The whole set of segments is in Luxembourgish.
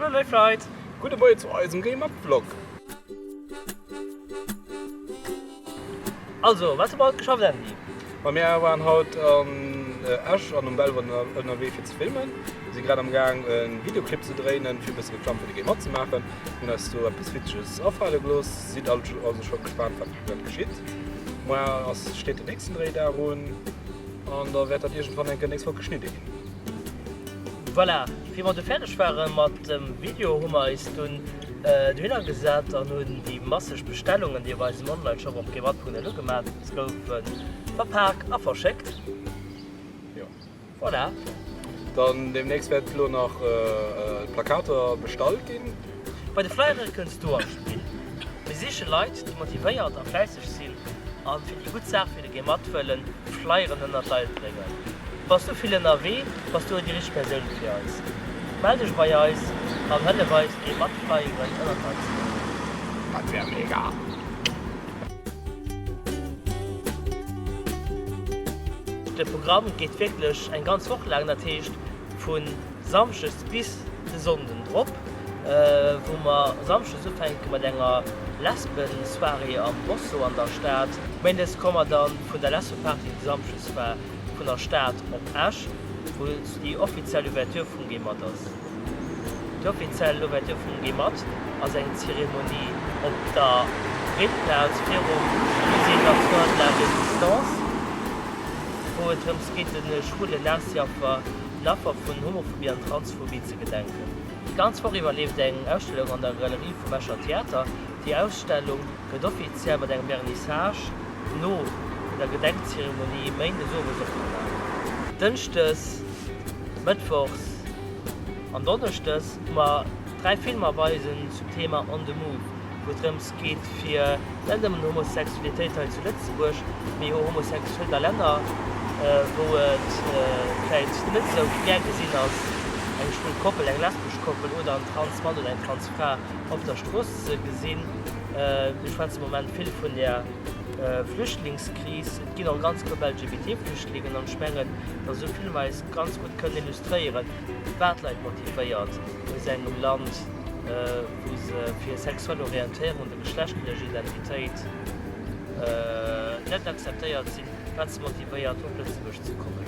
Hallo léif Leit! Gudde Moie zu eisem Game Up Vlog! Also, wat hu mer haut geschafft Andy? Ma mir waren haut an Esch an um Belval ënnerwee fir ze filmen. Mir si grad am gaang e Videoclip ze dréinen, fir e bësse Reklamm fir de Game matzemaachen. Hunn eis do eppes Witzeges afale gelooss, sidd also scho gespaant wat grad geschitt. Moar ass steet den nächsten Dréidag un an da wäert dat iergendwann enke nächst Woch geschnidde ginn. Voilà! Wéi mer du fäerdeg ware mat dem Video, hu mer eis dunn dohinner gesat an hunn déi masseg Bestellungen, déi op eisem Online-Shop op gmail.lu gemaach goufe verpak a verschéckt. Jo. Voilà. Dann deemnächst wäert elo nach d'Plakater bestallt ginn. Bei de Flyere kënns du an d'Spill. Mir siche Leit, déi motivéiert a fläisseg sinn an fir déi gutt Saach. Geh mat wëllen Flyeren ënnert Leiwt bréngen. Bass du vill ënnerwee? Bass du déi richteg Persoun fir eis? Mell dech bei eis an hëllef eis Geh mat Flyeren ënnert Leiwt ze bréngen. Dat wär mega! De Programm geet wierklech eng ganz Woch laang, dat heescht vun. Samschdes bis de Sonnden drop, wou mer Samschdes ufänke mat enger Lesben-Soirée am Rosso an der Stad. Méindes komme mer dann vun der Lesbe-Party, déi Samschdes war, vun der Stad op Esch, wou déi offiziell Ouverture vum Gemat ass. Déi offiziell Ouverture vum Gemat ass eng Zeremonie op der Breetplaz virum Musée d'Assoir de la Résistance, wou et drëms geet, de schwulen Nazi-Affer, den Affer vun Homophobie an Transphobie ze gedenken. Déi ganz Woch iwwer leeft eng Ausstellung an der Galerie vum Escher Theater. Déi Ausstellung gëtt offiziell mat engem Vernissage no der Gedenkzeremonie méindes owes opgemaach. Dënschdes, mëttwochs an donneschdes hu mer dräi Filmer weisen zum Thema On the Move, wou et drëms geet fir net nëmmen Homosexualitéit hei zu Lëtzebuerg, mee o Homosexualitéit a Länner, wou et vläit net esou gär gesinn ass, eng schwul Koppel, eng lesbesch Koppel oder en trans Mann oder eng trans Fra op der Strooss ze gesinn. Mir schwätzen am Moment vill vun der Flüchtlingskris. Et ginn och ganz Grupp LGBT-Flüchtlingen an ech mengen, dass esou Filmer eis ganz gutt kënnen illustréieren, wat Leit motivéiert, aus engem Land, wou se fir sexuell Orientéierung oder geschlechtlech Identitéit net akzeptéiert sinn, wat se motivéiert op Lëtzebuerg ze kommen.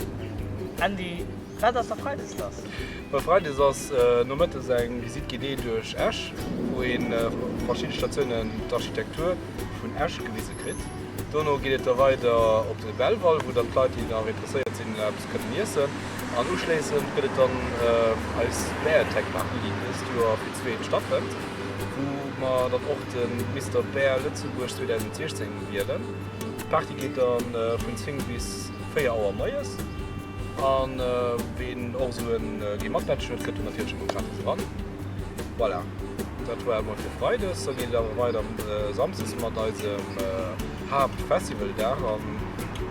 Andy, wat ass da Freides lass? Well Freides ass nomëttes eng Visite guidée duerch Esch, wou ee vu verschidde Statiounen d'Architektur vun Esch gewise kritt. Dono geet et da weider op de Belval, wou dann d'Leit, déi da interesséiert sinn, Kënnen iessen an uschléissend gëtt et dann eis Beartech Party, deen dëst Joer fir d'zweet stattfënnt, wou mer dann och de Mister Bear Lëtzebuerg 2016 wielen. D'Party geet da vun 10 bis 4 Auer moies an ween och esou e Gee matmatch huet, kënnt do natierlech ëmmer gratis eran. Voilà, dat war et mol fir Freides. Da geet et awer weider Samsdes mat eisem. Haaptfestivaldag an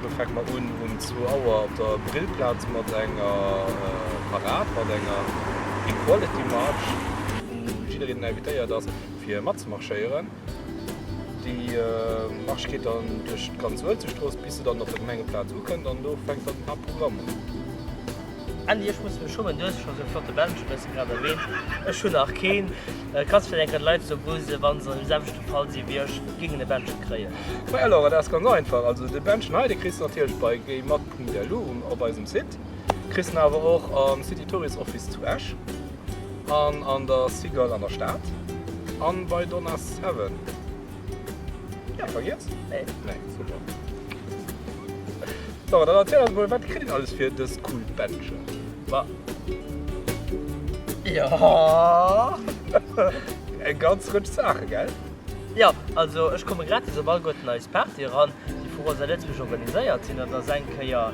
do fänke mer un um zwou Auer op der Brillplaz mat enger Parad mat enger Equality March, wou jiddereen invitéiert ass fir matzemarschéieren. Déi March geet dann duerch d'ganz Uelzechtstrooss bis se dann op der Gemengeplaz ukënnt an do fänkt dann den Haaptprogramm un. Andy, ech muss mech schummen, du hues scho sou e flotte Bändche bëssen grad erwähnt, ech hunn nach keen. Kanns vläit eng Kéier de Leit esou gutt sinn, wa se am selwechte Fall si wéi ech, géingen e Bändche kréien? Hei alors, dat ass ganz einfach, also de Bändchen hei, dee kriss de natierlech bei gaymat.lu um op eisem Site, kriss en awer och am City Tourist Office zu Esch an an der Cigale an der Stad an bei Donna Seven. Ja, vergiess? Nee. Nee, super. So, dann erzähl uns mal, wat kritt een alles fir dës cool Bändchen? Ma. Ja. Eng ganz Rëtsch Saachen, gell? Ja, also ech komme gratis op all guer d'Nice Party eran, déi vu Rosa Lëtzebuerg organiséiert sinn. Et ass eng Kéier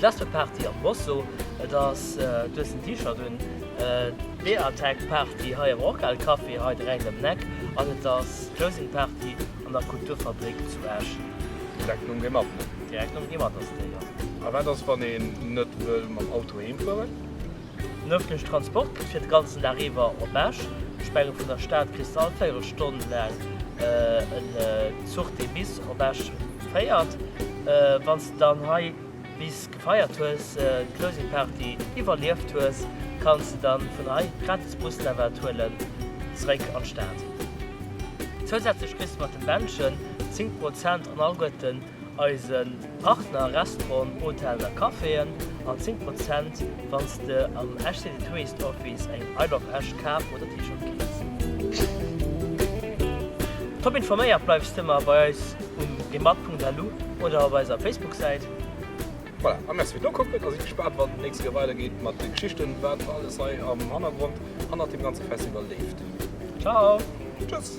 d'Lesbeparty am Bosso. Et ass, du hues den T-Shirt un. Beer Attack Party hei am Rockhal Café hei direkt ëm d'Neck an et ass Closing Party an der Kulturfabrik zu Esch. Direkt nom Gematte? Direkt nom Gematte ass déi, jo. A wat ass wann een net wëll mam Auto heem fueren? Den ëffentlechen Transport gëtt fir de ganzen Dag iwwer op Esch Spenge vun der Stad kriss de all véierel Stonn laang en Zuch dee bis op Esch féiert. Wann s de dann hei. Bis gefeiert hues, d'Closing Party iwwerlieft hues, kanns de dann vun hei gratis Busnavette huelen zréck an d'Stad. Zousätzlech kriss de mat dem Bändchen 10 Prozent an alleguerten eise Partner, Restauranten, Hotellen a Caféen, an 10 Prozent wanns de am Esch City Tourist Office eng I love Esch Kap oder T-Shirt keefs. Top informéiert bleifs de mar bei eis um Gemak.lu oder op eiser Facebook-Säit. Voilà, a merci fir d'Nokucken a sidd gespaant, wann et d'nächste Kéier weider geet mat de Geschichten, wat alles hei am Hannergrond hannert deem ganze Festival leeft. Ciao! Tschüss!